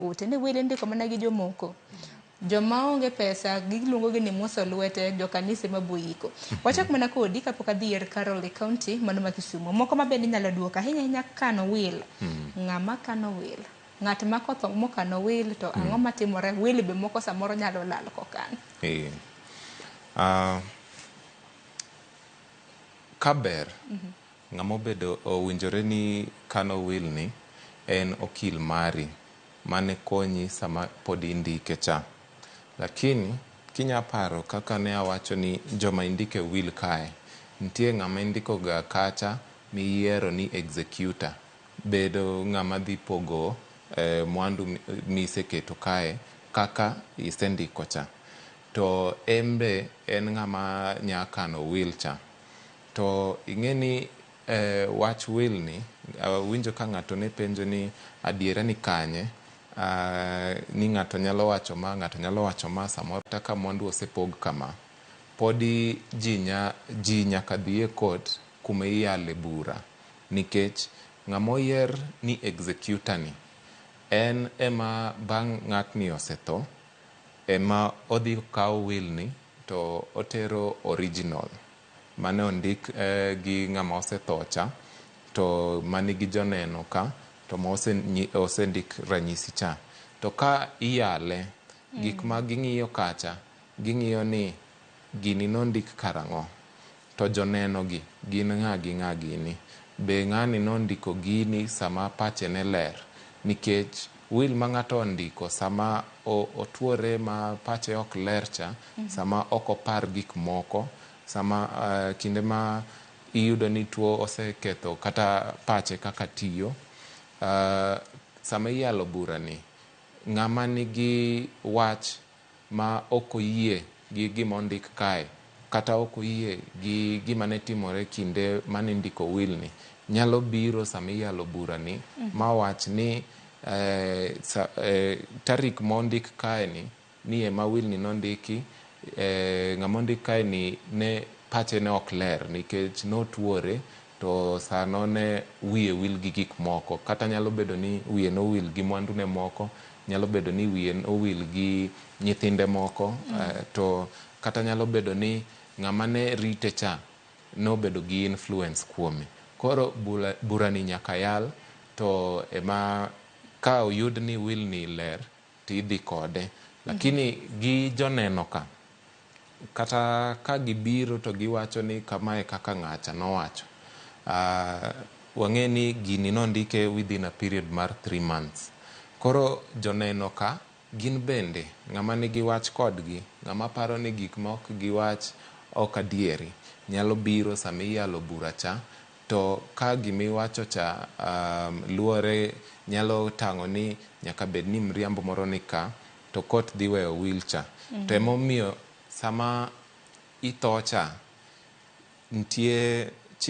Ote ne wele ndiko mana gi jomoko joma onge pesa giluongogi ni muso lwete jokanise ma boyiko. Wachak mana kodi kapok adhi er Carol e county mano ma Kisumo. Moko ma bende inyalo duok ahinya ahinya kano will. Ng'ama kano will? Ng'at ma kotho mokano will to ang'o matimore? Will be moko samoro nyalo lal kokan. Eh. Ah, kaber Ng'ama obedo owinjore ni kano will ni en okil mari mane konyi sama pod indike cha. Lakini kinya paro kaka ne awacho ni joma indike will kae, nitie ng'ama indiko ga kacha miyiero ni executor bedo ng'ama dhi pogo mwandu miseketo kae kaka isendiko cha. To en be en ng'ama nya kano will cha. To ing'eni e wach will ni awinjo ka ng'ato ne penjo ni adiera ni kanye, ni ng'ato nyalo wacho ma, ng'ato nyalo wacho ma samoro kata ka mwandu osepog kama, podi ji nya ji nyaka dhi e court kuma iyale bura nikech ng'ama oyier ni executor ni en ema bang' ng'atni osetho ema odhi kawo will ni to otero original. mane ondik gi ng'ama osethocha to manigi joneno ka to ma osendik ranyisi cha to ka iyale gik ma ging'iyo kacha ging'iyo ni gini nondik karang'o to joneno gi gin ng'a gi ng'a gini be ng'ani nondiko gini sama pache ne ler nikech Will ma ng'ato ondiko sama otuore ma pache ok ler cha, sama ok opar gik moko, sama kinde ma iyudo ni tuo oseketho kata pache kaka tiyo. Sama iyalo burani, ng'ama nigi wach ma ok oyie gi gima ondik kae kata ok oyie gi gima ne timore kinde ma nindiko wilni nyalo biro sama iyalo burani ma wach ni eh, sa, eh, tarik mondik kaeni ni ema wilni nondiki eh, ng'ama ondik kaeni ne pache ne ok ler nikech notuore To sano ne wiye wil gi gik moko. Kata nyalo bedo ni wiye nowil gi mwandune moko, nyalo bedo ni wiye nowil gi nyithinde moko, to kata nyalo bedo ni ng'ama ne rite cha nobedo gi influence kuome. Koro bula, burani nyaka yal to ema ka oyud ni wilni ler to idhi kode. Lakini gi joneno ka. Kata ka gibiro to giwacho ni kama e kaka ng'acha nowacho, wang'eyo ni gini nondike within a period mar three months. Koro joneno ka gin bende ng'ama nigi wach kodgi, ng'ama paro ni gik ma ok giwach ok adieri nyalo biro sama iyalo bura cha to ka gima iwacho cha luwore nyalo tang'o ni nyaka bed ni mriambo moro ni ka. to kot dhi weyo wheel cha to ema omiyo sama itho cha nitie